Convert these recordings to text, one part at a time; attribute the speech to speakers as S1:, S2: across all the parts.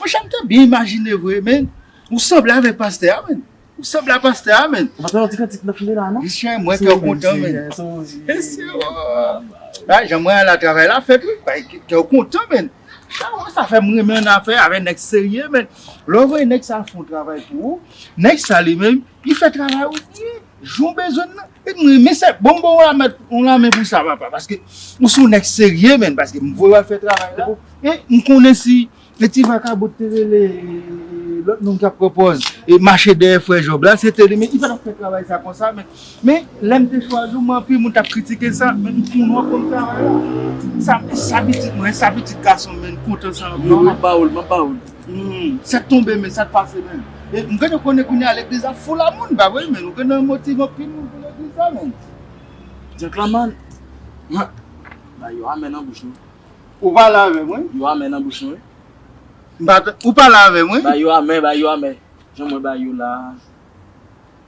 S1: Monchè m te byen imajine vre men ou sanble avèk pastè a menn ou sanble a pastè a menn. Mwen tande yon ti kantik nan file
S2: la non. Misye mwen kè w kontan
S1: menn. Gade jan mwen ala travay la fèt wi. Bay kè w kontan menn. Chawony sa fè m renmen an afè avè nèg serye menn. Lè w voye nèg sa fon travay pou ou, nèg sa li menm li fè travay ou byen. Jan w bezwen l la. Epi m renmen sa. Bon m ba w yon lamen pou sa papa. Paske ou se yon nèg serye menn. Paske m voye w al fè travay la. E m konnen si e ti vakabon te rele lòt moun k ap pran pòz e mache dèyè frè Jòb la se te li. Men li pa t ap fè travay sa konsa menm. Men lè m te chwazi w men anpil moun t ap kritike sa. Men m konnen w ap konn travay la. Sa pitit mwen sa pitit gason m menn m kontan sa anpil. Non m ap ba w l. M ap ba
S2: w l.
S1: Humm sa k tonbe men sa k pase men e m gade konnen kounya legliz la full a moun ba vre men nou gen nan motiv anpil moun pou legliz la men
S2: Gentleman Mwen Bay yo amè nan bouch nou Ou pale
S1: avè m wi Yo amè nan bouch nou wi
S2: M pa
S1: tande Ou pale avè m wi Bay yo amè bay yo amè
S2: Jan mwen bay yo la a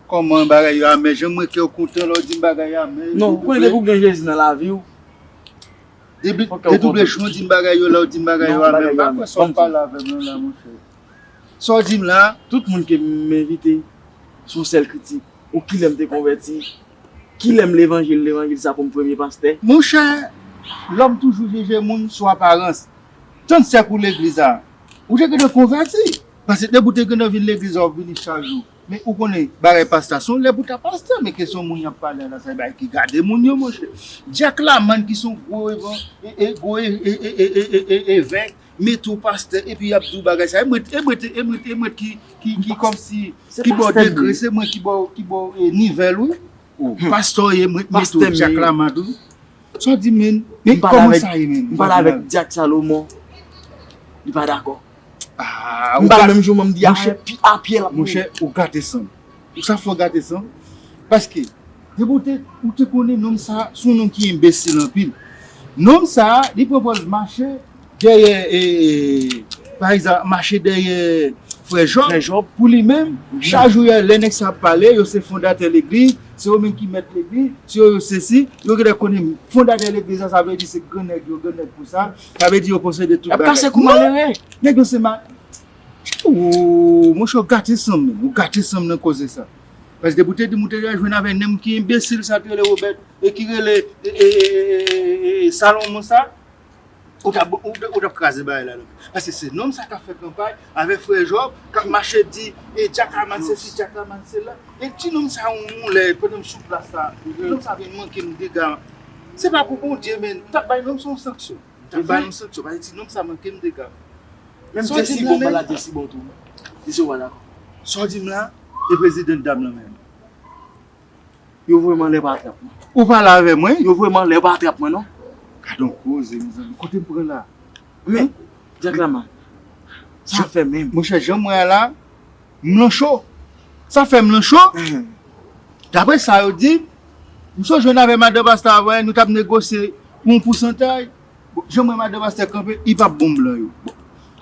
S1: Kòman bagay yo amè Jan m wè kè w kontan lè w di m bagay yo amè Non konnen depi w gen Jezi
S2: nan lavi w Dedoble
S1: chou dim bagay yo la ou dim bagay yo a menm pa kwe sa wap pale avem nan la monche sa w dim la tout moun ke m
S2: envite son sel kritik ou kilem te konveti kilem levanjil levanjil sa poum premye paste. Monchè
S1: lòm toujou jije moun sou aparans tann sèk ou legliz la ou te gentan konvèti paske depi ou te gentan vin legliz la wap vini chak jou. Men ou konnen bagay pasta son lè pou ta pasta men kesyon moun yap pale la sa se bagay ki gade moun yo monchè Jack lamann ki son gwo evan e gwo e evèk mete w pastè epi yap di w bagay sa e mwen e mwen e mwen e mwen ki ki ki kòmsi ki ba w degre se mwen ki ba w ki ba w nivèl ou. Hum. Pastor ye mwen t met ou Jack la mad ou. Saw di menn? Men koman sa ye menn? M pale avek Jack
S2: Salomon li pa dakò. Aah. M
S1: pale menm jou mwen m di
S2: afe pi a pye lap mouri. Monchè ou gate
S1: sanm. Ou sa fè w gate sanm? Paske depi ou te ou te konnen nonm sa son nonm ki enbesil anpil. Nonm sa li pran pòz mache Dèyè pa egzanp mache dèyè frè Jòb pou li menm chak jou yè lè nèg sa ap pale yo se fondatè legliz se yo menm ki mèt legliz se yo yo sesi yo gèlè konnen fondatè legliz la sa vle di se gran nèg yo gran nèg konsa sa vle di yo posede tout bagay yap pase kou malere nèg yo se mal ooh monchè ou gate sanm menm ou gate sanm nan koze sa paske depi ou te dim ou te jwenn avè nènm ki enbesil sa ki rele Robert e ki rele salonmon sa. Ou tap ou tap kraze bagay la nan. Paske se nonm sa kap fè kanpay avèk frè Job kap mache di e Jackman sesi Jackman sela e ti nonm sa yon yon lè pandan m sou plas la ti nonm sa vin manke m dega se pa pou Bondye men m tap bay nonm sa yon sanksyon m tap bay yon sanksyon paske ti nonm sa manke m dega menm sa w
S2: di m la menm sa w di m la
S1: e prezidan dam lan menm.
S2: Yo voye m anlè pa trap mwen. Ou pale avè mwen,
S1: yo voye m anlè pa trap
S2: mwen non. Gadon koze
S1: mezanmi, kote m pran la? Men,
S2: Jack Laman, sa ap fè menm. Monchè, jan m wè a la,
S1: m lan cho. Sa fè m lan cho? Daprè sa yo di, m sonje w nan avè madan Basta a, nou t ap negosye pou yon pousantaj. Bon janm wè madan pastè kanpe li pap bon blan yo bon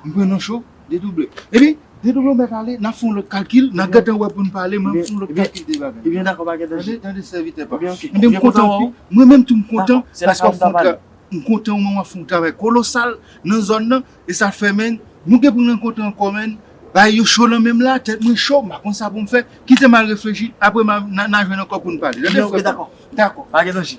S1: m pran nan cho dedouble ebyen dedouble mèt ale nap fè yon lòt kalkil nap gentan wè poun pale mwen m fè yon lòt kalkil de bagay ebyen dakò pa gen danje
S2: tande sèvitè
S1: pam ebyen m kontan anpil mwen menm tou m kontan paske wap fè yon travay m kontan
S2: ou menm wap
S1: fè yon travay kolosal nan zòn nan e sa fè menn nou gen poun rankontre ankò menn bagay yo cho nan menm la tèt mwen cho m pa konn sa poum fè kitem al reflechi apre nan jwenn ankò poun pale tande frè pam dakò
S2: pa gen danje.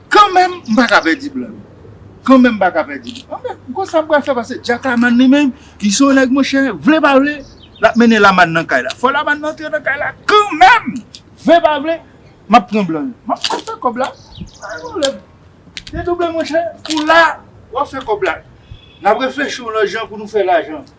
S1: Kanmenm m pa ka pèdi blan yo. Kanmenm m pa ka pèdi blan yo. Anben, m konn sa m pral fè pase Jackaman li menm, li se yon nèg monchè, vle pa vle, l ap mennen Lamàn nan kay la. Fò Lamàn nan antre nan kay la kanmenm! Vle pa vle, m ap pran blan yo. M ap pran fè kòb la. Pa gen pwoblèm. Dedouble monchè, ou la, w ap fè kòb la. N ap reflechi yon lòt jan pou nou fè lajan.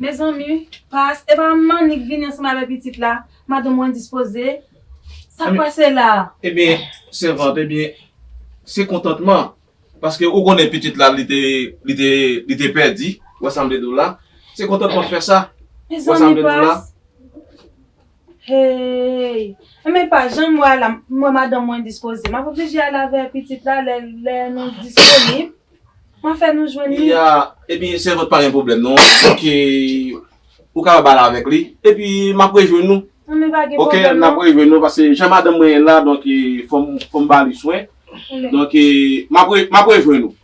S3: Mezanmi pas epa mannik vini ansanm avè pitit la madanm ou endispoze sak pase la. Ebyen
S4: sèvant ebyen se kontantman paske ou konnen pitit la li te pèdi wè sam vle diw la se kontantman fè sa wè sam vle diw la.
S3: Heyy! Enben m pa janm wè Alam, m wè madanm mwen endispoze. M ap oblije ale avè pitit la lè lè nou disponib. M ap fè nou jwenn li. Iya, Epi
S4: sèvant pa gen pwoblèm non. Ok, ou kapab ale avèk li. Epi m ap rejwenn nou. Enben pa gen pwoblèm
S3: non. Ok, n ap rejwenn
S4: nou
S3: pase
S4: jan madanm mwen la donk fò m ba li swen. Donk m ap rejwenn nou.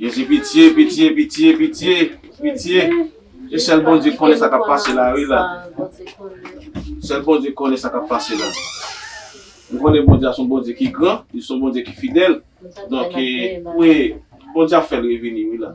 S4: Jezi pitye pitye pitye pitye pitye e sèl Bondye konnen sa kap pase la wi la sèl Bondye konnen sa kap pase la nou konnen Bondye a son Bondye ki gran li son Bondye ki fidèl donk e wi Bondye ap fèl revini wi la.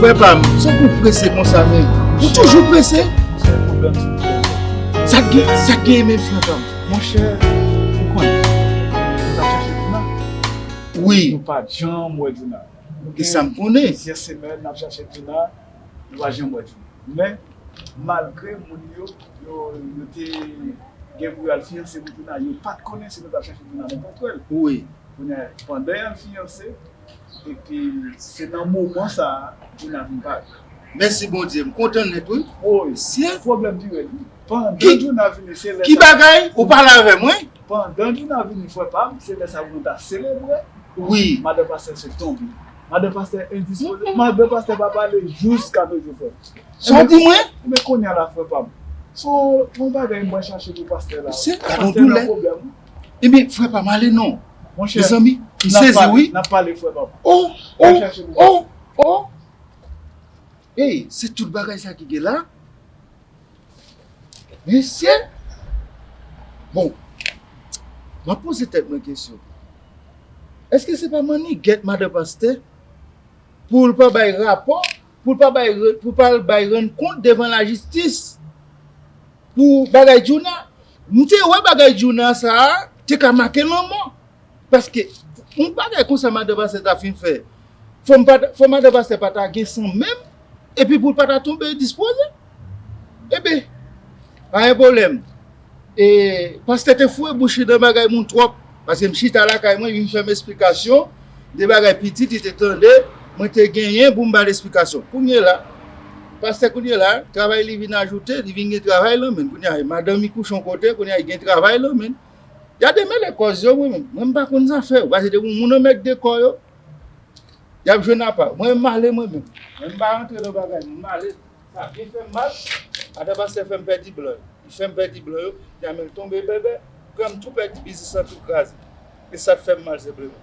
S1: Frè pa m, sou pou prese kon sa men, ou toujou prese? Sa k gen, sa k gen men frè pa m? Mon chè,
S5: ou konnen, mwen ta chache Dina? Wi.
S1: Mwen pa janm
S5: wè Dina. ki sa m konnen.
S1: Gen plizyè semèn n ap chache
S5: Dina, nou pa janm wè Dina. Men, malgre moun yo, yo te gen pou yo al fiyanse pou Dina, yo pa t konnen si nou t ap chache Dina nenpòt kote. Kounye a,
S1: pandan y
S5: al fiyanse, epi se nan moman sa a Dina vin parèt. Mèsi Bondye,
S1: m kontan nèt wi. Woy,
S5: pwoblèm pi
S1: rèd wi.
S5: Pandan Dina vini,
S1: se lè sa a. Ki
S5: bagay? Ou pale
S1: avè mwen? Pandan Gina
S5: vini frè pam se lè sa pou nou ta selebre wi madan pastè sot tonbe madan pastè endispoze madan pastè pa pale jous ka toujou fè Sa w di mwen?
S1: Ebyen kounya la frè
S5: pam se yon bagay mwen chache pou pastè la wi pastè nan
S1: pwoblèm wi Ebyen frè pam ale non mezanmi
S5: m
S1: sezi wi nap pale frè pam
S5: oh oh oh
S1: oh. Hey se tout bagay sa ki gen la? Mesye! Bon, m ap poze tèt mwen kesyon, èske se pa mannigèt madan pastè pou l pa bay rapò, pou l pa bay, pou l pa al bay rann kont devan lajistis pou bagay Djouna? M te wè bagay Djouna sa a te ka make lanmò Paske yon bagay konsa madan pastè ta fin fè fò m pa ta fò madan pastè pa ta gen san menm epi pou l pa ta tonbe dispoze enben pa gen pwoblèm e pastè te fouye bouch li nan bagay moun twòp paske m chita lakay mwen li vin fè m esplikasyon de bagay pitit li te tande mwen te genyen pou m ba l esplikasyon kounyela pastè kounyela travay li vin ajoute li vin gen travay nan men l kounya madanm li kouche yon kote kounya li gen travay nan men l. Ya demele kòz yo mwen menm. Mwen m pa konn sa fè yo. Pase depi moun anmègde kò yo, yap jwenn apa yo. Mwen menm m ale mwen menm. Mwen m pa rantre nan bagay moun. M ale. Sa byen fè m mal. Madan pastè fè m pèdi blan yo. Li fè m pèdi blan yo. Ya men l tonbe bèbè. Pran m tou pèdi biznis lan tou kraze. E sa k fè m mal senpleman.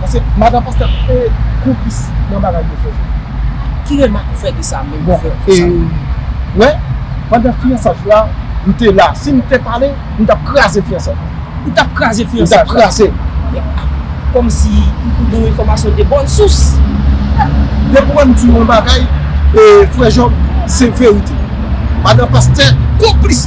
S6: Paske madan pastè ap peye konplis nan bagay yo fè. Ki remak ou fè de sa menm frè ou fè sa. Wè, pandan fiyansaj la, m te la. Si m te pale, m t ap kraze fiyansaj la. Ou t ap kraze fiyansaj la? M t ap kraze l. Kòm si ou gen yon enfòmasyon de bòn sous. Depi ou wè m di yon bagay, frè Jòb, se verite. Madan pastè konplis.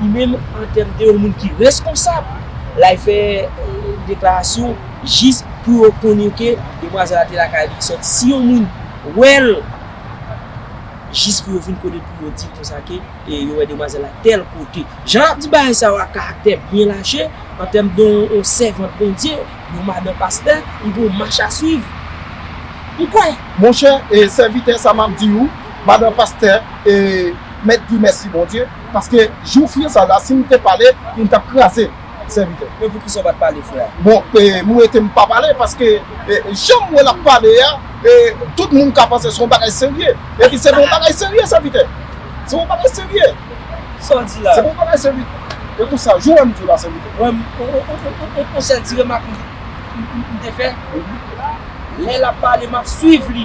S6: Ou menm an tèm de yon moun ki reskonsab, lay fè deklarasyon jis pou yo konnen ke demwazèl la te lakay li sòti. Si yon moun wè l, jis pou yo vin konnen pou yo di l konsa ke yo wè demwazèl la tèl kote. Jan l ap di bagay sa yo ak karaktè byen laje, an tèm de yon sèvant Bondye, yon madan pastè, m gen yon mach a swiv. M kwè! Monchè, sèvitè, sa m ap di ou, Madan pastè e mèt Guy mèsi Bondye paske jou fiansa la sim te pale m tap kraze sèvitè. Men poukisa ou pat pale frè? Bon e m rete m pa pale paske janm wè lap pale a e tout moun ka panse se yon bagay serye epi se pa yon bagay serye sèvitè se yon bagay serye sa w di la se
S7: pa yon bagay
S6: serye e pou sa jou wè m di w la sèvitè. Mwen
S7: yon sèl ti remak m te fè lè lap pale map swiv li.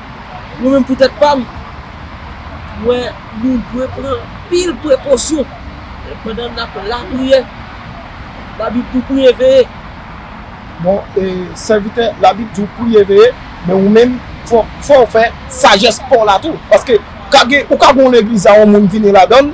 S7: Mwen menm pou tèt pa m, m wè nou dwe pran anpil prekosyon pandan n ap lapriyè. Labib di w priye veye. Bon,
S6: sèvitè, Labib di w priye veye, men ou menm, fò w fè sajès pa w la tou. Paske, ou ka gen yon legliz a yon moun vini ladan l,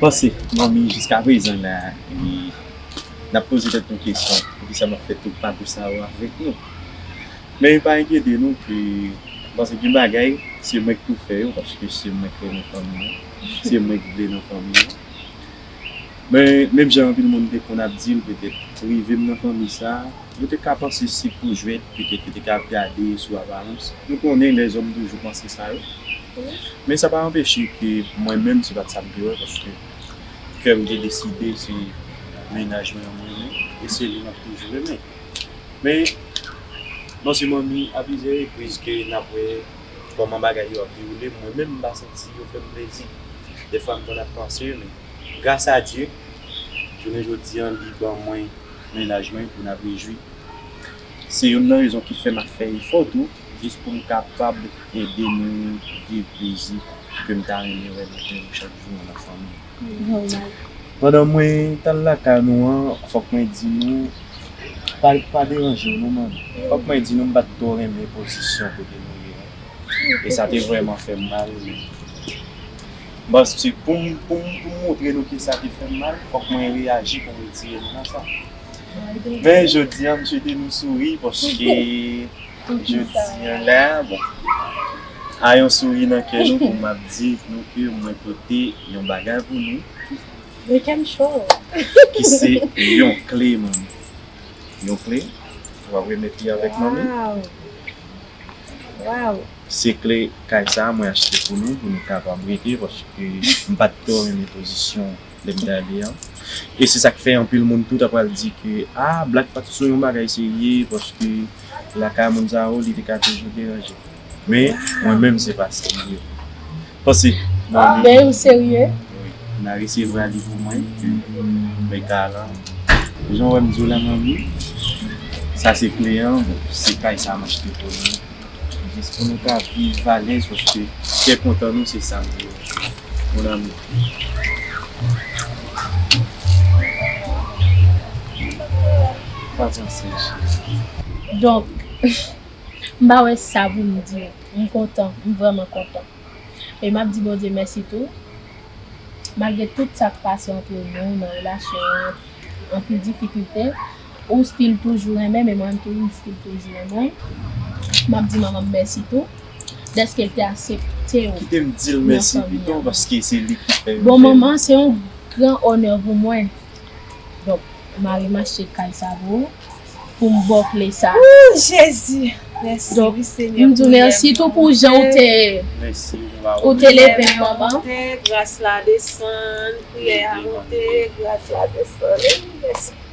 S8: Panse
S2: manmi jiska prezan la e nap poze tèt nou kesyon poukisa map fè tout papou sa yo avèk nou men pa enkyete nou ke panse gen bagay se mwenk pou fè yo paske se mwenk renmen fanmi an se mwenk vle nan fanmi an men menm jan anpil moun te konn ap dil petèt rivem nan fanmi sa yo te ka panse se pou jwèt petèt yo te ka ap gade sou aparans nou konnen lèzòm toujou panse sa yo. Men sa pa anpeche ke mwen menm se pat sa m te wè paske kè m te deside se mennaj mwen an m renmen e se li map toujou renmen. Men bon se manmi a plizyè repriz ke nap wè kòman bagay yo ap dewoule mwen menm m pa santi yo fè m plezi. Dèfwa m konn ap panse men gras a Dye jounen jodi an li ban mwen mennaj mwen pou n ap rejwi. Se youn nan rezon ki fè map fè efò tou jis poum kapab ede nou viv plezi kem ta renmen wè nan kè nou chak jou an afanmi. Pandan mwen tal lakay nou an fòk mwen di nou pa deranjew non man fòk mwen di nou m pat twò renmen pozisyon kote nou ye an e sa te vrèman fèm mal men paske poum poum moutre nou ke sa te fèm mal fòk mwen reyaji poum retire nou nan sa men jodia m swete nou souri paske Je di an la, bon, a yon souri nan kè nou pou m ap di nou ke mwen pote yon bagay pou nou. Mwen kè m
S8: cho. Ki se
S2: yon kle manmi. Yon kle, w ap remèt li avèk manmi. Waww!
S8: Se kle
S2: kay sa a mwen achte pou nou, pou nou kapab rete paske m pa t twò renmen pozisyon. lè m gade an. E se sa k fè anpil moun tou ta pral di ke a Black pa t sou yon bagay serye paske lakay moun sa yo li te ka toujou deranje. Men, mwen menm se pa sa m ye. Pase, Nari. Dey ou serye?
S8: Wi. Nari
S2: se vwa li pou mwen ke mwen ka lan. Jan w wè m di w la Manmi, sa se kle an, bon, se kay sa m achte pou nou. Jis pou nou ka viv alèz paske kè kontan nou se sa m vle. Mon amour.
S8: Donk m pa wè sa pou m di m kontan m vrèman kontan e map di Bondye mèsi tou malgre tout sak pase antre nou nan relasyon an anpil difikilte Ou stil toujou renmen men mwen tou m stil toujou renmen w map di manman m mèsi tou dèske l te asepte w kite m di l
S2: mèsi pito paske se li ki fè m bon manman se yon
S8: gran onè pou mwen donk mari m achte kay sa pou ou pou m ba w kle sa ooh jezi
S3: mèsi wi senyè m di w
S8: mèsi
S3: tou pou
S8: jan w te mèsi
S2: ou te
S8: leve m manman gras la
S3: desann priyè a monte gras la desann mèsi.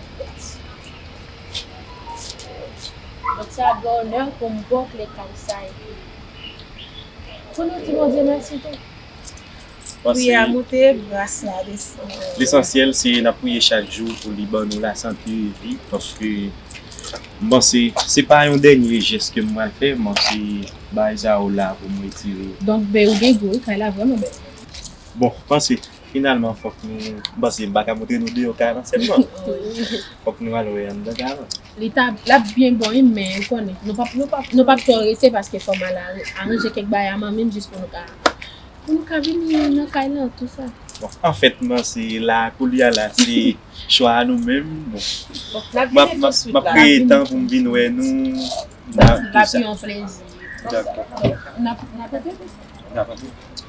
S8: Donk se ak gran onè pou m ba w kle kay sa a epi pou nou di Bondye mèsi tou. Priyè
S3: a moute, gras la desann. Lesansyèl se n
S2: ap priye chak jou pou li ban nou lasante e vi paske m panse se pa yon dènye jès ke m pral fè, m panse bagay sa yo la pou m retire. Donk bby ou gen gou
S8: wi, kay la vrèman bèl. Bon, m
S2: panse Finalman fok nou pase baka montre nou deyo kay lan selman fok nou al we andan kay lan. Li ta lap
S8: byen bon wi men ou konnen nou pap nou pap nou pap twò rete paske fòm al aranje kèk bagay a manmim jis pou nou ka pou nou ka vini nan kay lan tou sa. Bon anfèt nan
S2: se la koulye a la se chwa a nou menm bon map map map kreye tan poum vin wè nou nan tou sa. Lap
S8: yon plezi. Dako.
S2: Nap
S8: nap antre. Nap antre.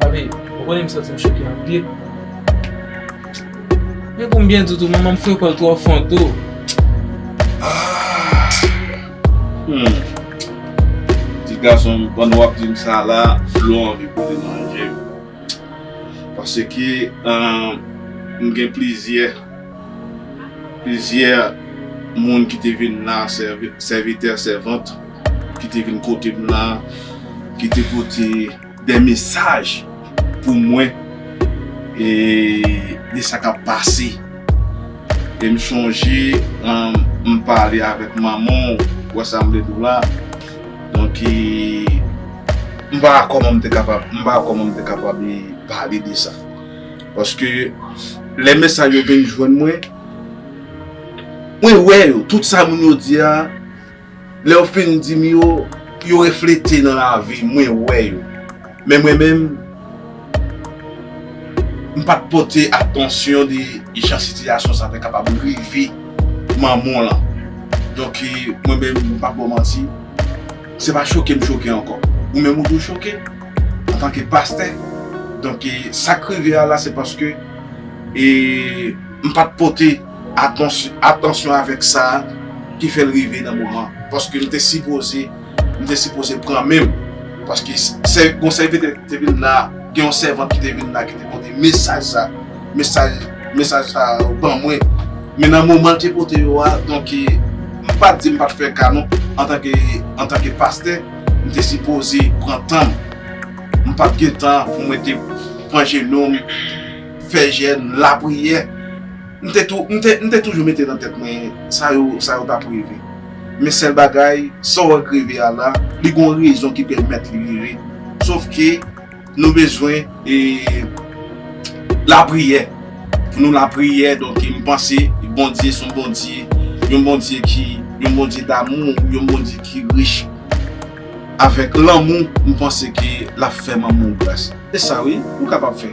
S4: Papi,
S7: ou konnen m santi m choke anpil. Men pou m byen di w tou, manman m fwe kò l twò fon tou.
S4: Ti gason m, pandan w ap di m sa la, dlo anvi koule nan je m. Paske m gen plizyè, plizyè moun ki te vin la, sèvitè, sèvant. ki te vin kote m la, ki te pote de mesaj pou mwen e de sa k ap pase. E m sonje m pale avèk manman w, wè sa m vle di w la. Donk, m pa wè kòman m te kapab, m pa wè kòman m te kapab pale de sa. Paske lè mesaj yo vin jwenn mwen, mwen wè yo, tout sa moun yo di a. Lèw fin dim yo, yo reflete nan lavi mwen wè yo. Men mwen menm, m pat pote atansyon de jan sitiyasyon sa te kapab rive manman w lan. Donk mwen menm, m pap baw manti, se pa choke m choke ankò. Ou menm ou dwe choke antanke pastè. Donk sak rive a la se paske m pat pote. Atansyon avèk sa ki fè l rive nan moman an. Paske m te sipoze, m te sipoze pran men m. Paske sè, gon sèvitè ki te vin la, gen yon sèvant ki te vin la ki te pote mesaj sa. Mesaj, mesaj sa yo ban mwen. Men nan moman l te pote yo a, donk e, m pa di m pa t fè ka non. Antanke, antanke pastè, m te sipoze pran tan m. M pa t gen tan pou mwen te pran jenou m, fè jèn, lapriyè. M te tou, m te, m te toujou mete nan tèt mwen, sa yo, sa yo t ap reve. Men sèl bagay, sa w ank reve a la, li gen yon rezon ki pèmèt li rive. Sof ke, nou bezwen, e, lapriyè. Pou nou lapriyè, donk m panse, Bondye s on Bondye, yon Bondye ki, yon Bondye damou, yon Bondye ki rich avèk lanmou, m panse ke l ap fè manman w gras. Se sa wi, ou kapab fè.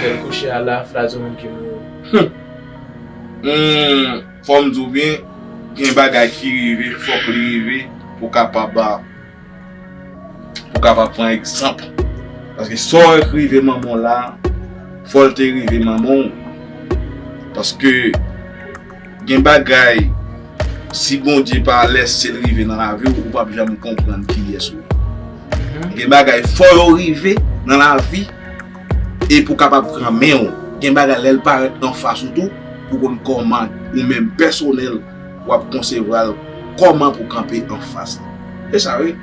S7: Bèl kouche a la flazo menm ki mouri. Humm
S4: fòm diw byen gen bagay ki rive fòk li rive pou kapab pou kapab pran egzanp paske sa wè ki rive manmanw la fòl te rive manmanw paske Gen bagay si Bondye pa lèsel rive nan laviw ou pap janm konprann kiyès ou ye. Gen bagay fò yo rive nan lavi e pou kapab pran menw. Gen bagay lèl parèt anfas ou tou pou konn kòman ou menm pèsonèl wap konsevwal kòman pou kanpe anfas li. Se sa wi.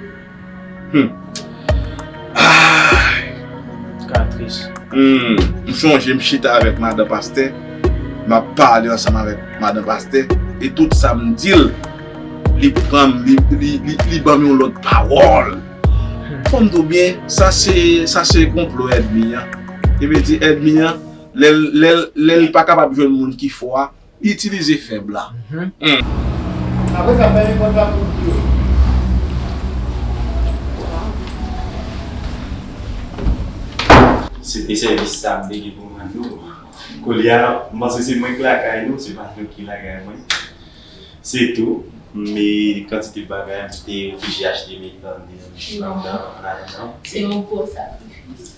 S7: M
S4: sonje m chita avèk madan pastè, m ap pale ansanm avèk madan pastè, e tout sa m di l, li pran m, li ban m yon lòt pawòl. Fò m di w byen, sa se konplo èdmi an. Li vle di èdmi an, lè l pa kapab jwenn moun ki fò a, Itilize fèb la.
S1: Apre sa, fèmen pòt la pou bri yo.
S2: Se te sèvis sa m te gen pou m rann nou. Koulye a, m panse se mwen k lakay nou, se pa nou ki lakay mwen. Se tou, m kantite bagay m te oblije achte m etan m te nan misyon an, m nan ann ajanm. Se yon gwo
S8: sakrifis.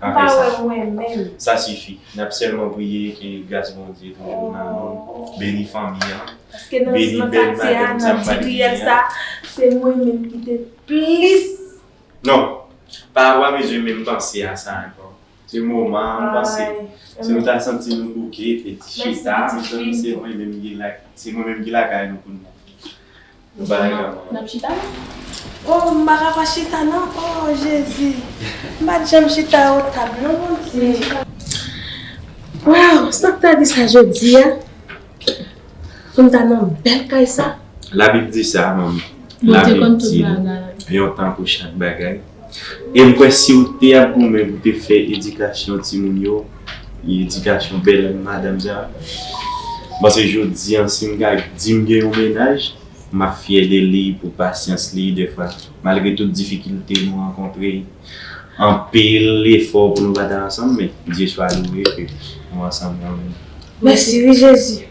S2: Ou pa wè mwen menm. Sa sifi. Nap sèlman priye ke gras Bondye toujou nan nou, beni fanmi an, beni bèl
S3: madanm sa mwen li a. Paske nan katiye a, nan di riyèl sa, se mwen menm ki te plis. Non,
S2: pa wap bezwen menm panse a sa ankò. Se moman an ou panse. Si nou ta santi nou bouke, fè ti chita, se mwen menm ki lakay nou pou nou. Nou pa nan kay la. Nap chita
S3: la. Oh m paka pa chita nan oh jezi m pat janm chita o tab non bondye. Waw sak ta di sa jodia poum ta nan bèl kay sa. La bib di sa
S2: manmi. Bondye konn
S8: tout
S2: bagay. Yon tan pou chak bagay. E m kwè si w te ap goumen pou te fè edikasyon timoun yo, edikasyon bèl madanm sa a, m panse jodi an si m ka di m gen yon mennaj, m ap fyè de li pou pasyans li dèfwa malgre tout difikilte nou rankontre, anpil efò pou nou pa ta ansanm men Dye swa louwe ke nou ansanm kanmenm. Mèsi
S3: wi Jezi!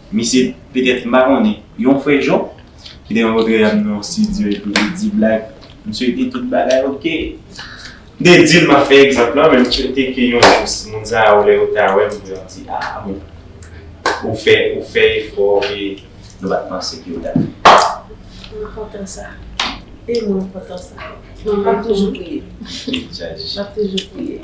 S2: Misye petèt m pa konnen yon frè Jon ki te rankontre avm nan yon studio epi li di blag misye di tout bagay ok m te dil map fè egzanp lan men m swete ke yon jou si moun sa yo lè yo ta wèm yo ap di ah bon ou fè ou fè efò ke nou pat panse ke ou tap fè. Mwen kontan sa e mwen
S8: kontan sa map toujou priye map toujou priye.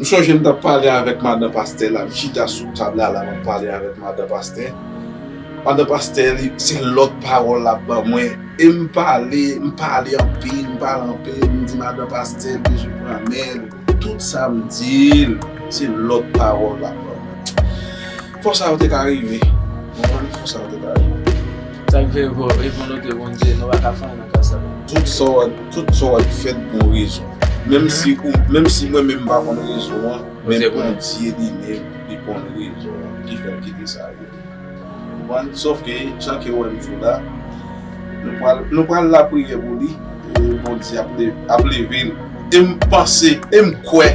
S4: M sonje m t ap pale avèk madan pastè la, m chita sou tab la la m ap pale avèk madan pastè. Madan pastè li, se lòt pawòl l ap ban mwen. E m pale, m pale anpil, m pale anpil, m di madan pastè m bezwen pran men l. Tout sa m di l, se lòt pawòl l ap ban mwen. Fò sa yo te ka rive. Fò sa yo te ka rive. Sa k fè
S7: fò e volontè Bondye nou pa ka fanyen nan ka sa yo. Tout sa wap tout
S4: sa wap fè t gon rezon. Menm si ou menm si mwen menm m pa konn rezon an men Bondye li menm li konn rezon an ki fè l kite sa rive. Konprann? Sof ke jan ke ou wè m jwe la nou pral nou pral lapriyè pou li e Bondye ap leve l e m panse e m kwè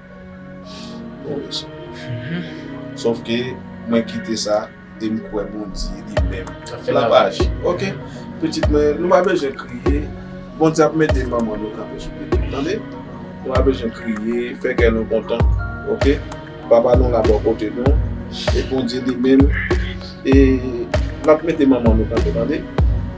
S4: Bon mesye. Sof ke mwen kite sa e m kwè Bondye li menm lap aji. Ok pitit mwen nou pa bezwen kriye Bondye ap mete manman nou kanpe sou pye nou tande. Nou pa bezwen kriye fè kè nou kontan ok papa nou la bò kote nou e Bondye li menm e lap mete manman nou kanpe tande.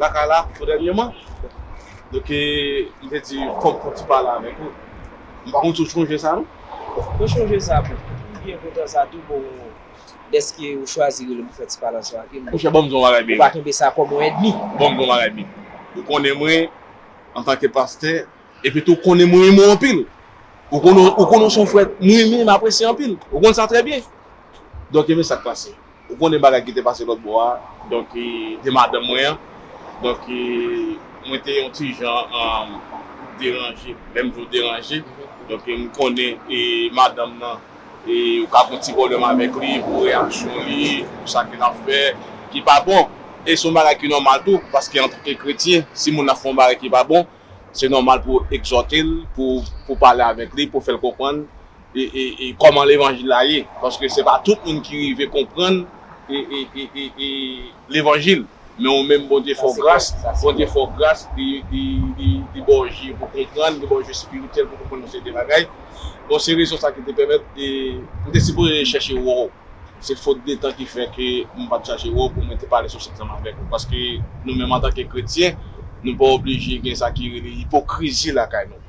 S4: lakay la pou dènyeman. Donk e m te di fòk fon ti pale avèk ou. M pa konn si w chonje sa non. Mwen chonje
S7: sa pou m byen kontan sa tou bon dèske ou chwazi rele m pou fè ti pale ansanm avè m. Monchè ban m di w yon bagay big.
S4: Ou pa kenbe sa kòm yon
S7: èdmi. Ban m di w yon bagay
S4: big. Ou konnen mwen antanke pastè epi tou ou konnen mwen renmen w anpil. Ou konnen w se yon frè m renmen m apresye anpil. Ou konn sa trè byen. Donk e men sa k pase. Ou konnen bagay ki te pase lòt bò a, donk de madanm mwen an, donk mwen te yon ti jan deranje, lè m di w deranje, donk m konnen madanm nan ou ka gon ti pwoblèm avèk li pou reyaksyon li, pou sa ke l ap fè ki pa bon, e s on bagay ki nòmal tou, paske antanke kretyen, si moun ap fè yon bagay ki pa bon. Se nòmal pou egzòte l, pou pale avèk li, pou fè l konprann kòman levanjil la ye. Paske se pa tout moun ki rive konprann levanjil. Men ou menm Bondye fè w gras, Bondye fè w gras, li ba w je pou konprann, li ba w je espirityèl pou konprann yon seri de bagay. Bon se rezon sa ki te pèmèt m te sipoze chèche wè w. Se fot de tan ki fè ke m pa t chache wè w pou mwen te pale sou sèks ansanm avèk ou. Paske nou menm antanke kretyen, nou pa oblije gen sa ki rele ipokrizi lakay nou.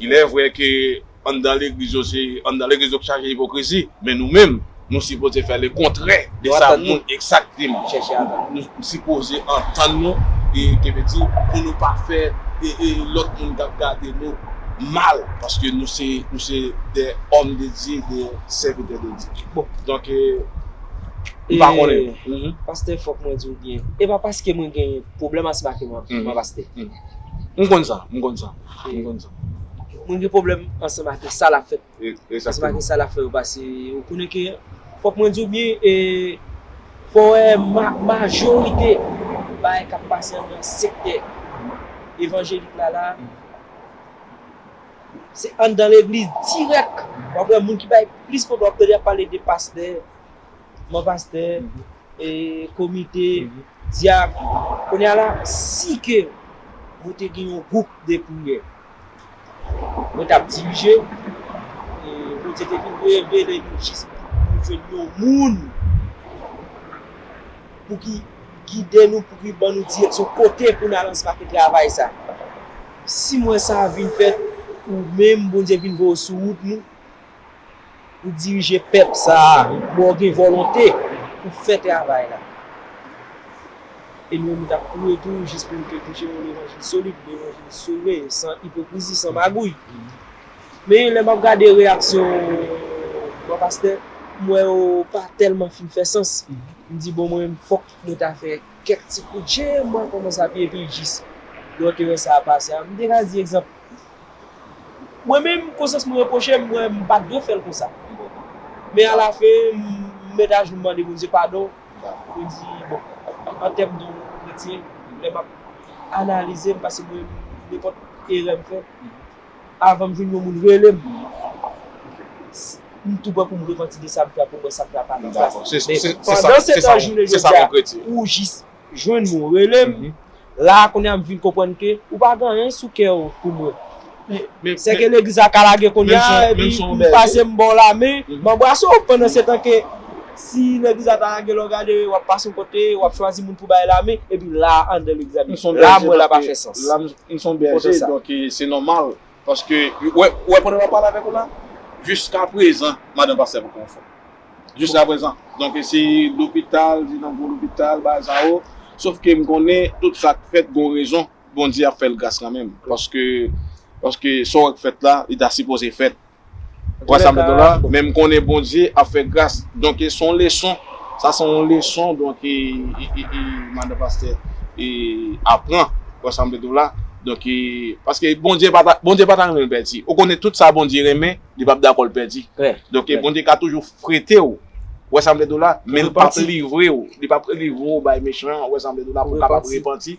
S4: Ilèvre ke anndan legliz yo se anndan legliz yo k chaje ipokrizi, men nou menm, nou sipoze fè le kontrè de sa moun chèche antann nou. Nou sipoze antann nou, ke vle di, pou nou pa fè lòt moun k ap gade nou mal, paske nou se de òm de Dye, de. sèvitè de Dye. Bon, donk e, e,
S7: pastè fòk mwen di w byen, e pa paske mwen gen pwoblèm asma ke mwen ap pastè. M konn
S4: sa, m konn sa, m konn
S7: sa. Mwen gen pwoblèm ansanm ake sa l ap fè, ansanm ake sa l ap fè yo pase, ou konnen ke, fòk mwen di w byen, e, fò wè majorite bagay k ap pase anndan sektè evanjelik la la, Se anndan legliz dirèk wap wè moun ki bay plis kote wap tande yap pale de pastè, manman pastè, komite, dyak. Kounye a la si ke mwen te gen yon gwoup de priyè mwen tap dirije e Bondye te vin revele li jis pou jwenn yon moun pou ki gide nou, pou ki ban nou direksyon kote pou n al ansanm ak yo travay sa. Si mwen sa a vin fèt, ou menm, Bondye, vin voye w sou wout nou pou w dirije pèp sa a, bon w gen volonte pou w fè travay la. E nou menm nou t ap kouri tou jis pou nou te preche yon levanjil solid, levanjil sove, san ipokrizi, san magouy. Men, lè m ap gade reyaksyon bon pastè, m wè yo pa tèlman fin fè sans. M di bon mwen menm fòk mwen ta fè. Kèk ti kout je, mwen kòmanse ap ye pi jis lè w te wè sa a pase a. M te ka di egzanp, Mwen menm, konsyans mwen repwoche m, m wè m pa t dwe fè l konsa. Men alafen, m met ajou m mande Bondye padon, mwen di, Bon, an tèm de yon kretyen, lè m ap analize m, pase mwen menm nenpòt erè m fè, Avanm jwenn yon moun relem m tou pran poum repanti de sam fè a poum wè sak la pa nan plas li men pandan setan jounen jodi a ou jis jwenn moun relem la a kounya m vin konprann ke ou pa gen anyen sou kèw pou mwen men sèke legliz la ka lage kounya epi ou pase m baw lamen m anbrase w pandan setan ke si legliz la ta lage lè w gade wap pase yon kote wap chwazi moun pou bay lamen epi la a andan legliz la la a m wè la pa fè sans. M son bèje
S4: donk se nòmal paske ou wè pandan map pale avèk ou la jiskaprezan madan pastè poko anfòm jiskaprezan donk si lopital li nan gwo lopital bagay sa yo sof ke m konnen tout sak fèt gon rezon Bondye ap fèl gras kanmenm paske paske sa ou wè k fèt la li ta sipoze fèt Wa sa mèt la, men m konnen Bondye ap fè gras. Donk se yon leson, sa se yon leson donk e madan pastè e apran wa sa mèt la. Donk e paske Bondye pa ta Bondye pa ta renmen l pèdi. Ou konnen tout sa Bondye renmen, li pap dakò l pèdi. Donk e Bondye ka toujou frete w, wa sa mèt la, men l pap livre w, li pap livre w bay mechan an, wa sa mèt la, pou w kapab repanti.